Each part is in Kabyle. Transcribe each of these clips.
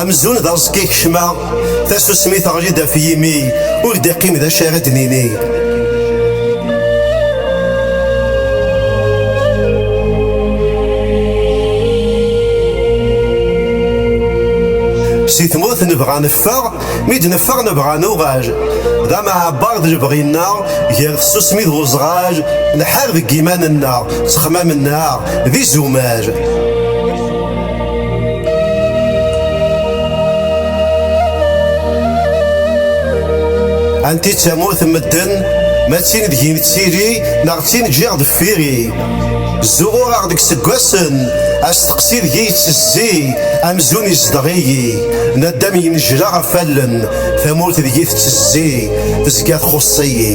Amzun d aẓekka kecma, tasusmi teɣli-d ɣef yimi, ur d-iqqim d acu ara d-nini. Si tmurt nebɣa neffeɣ, mi d-neffeɣ nebɣa nuɣal. D amaɛebbar d lebɣi-nneɣ, gar tsusmi d uzɣal, nḥar deg iman-nneɣ, ttexmam-nneɣ d izumal. Anti d tamurt n medden, ma d tin deg-i nettili, neɣ d tin ǧǧiɣ deffir-i. Zuɣureɣ deg seggasen, asteqsi deg-i yettezzi, amzun izdeɣ-iyi. Naddam yennejla ɣef allen, tamurt deg-i tettezzi, tezga txuṣṣ-iyi.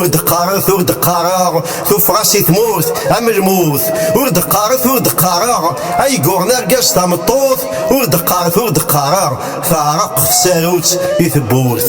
ur d-qqaret ur d-qqareɣ tuffɣa si tmurt am lmut ur d-qqaret ur d-qqareɣ ay yuɣen argaz tameṭṭut ur d-qqaret ur d-qqareɣ teɛreq tsarut i tewwurt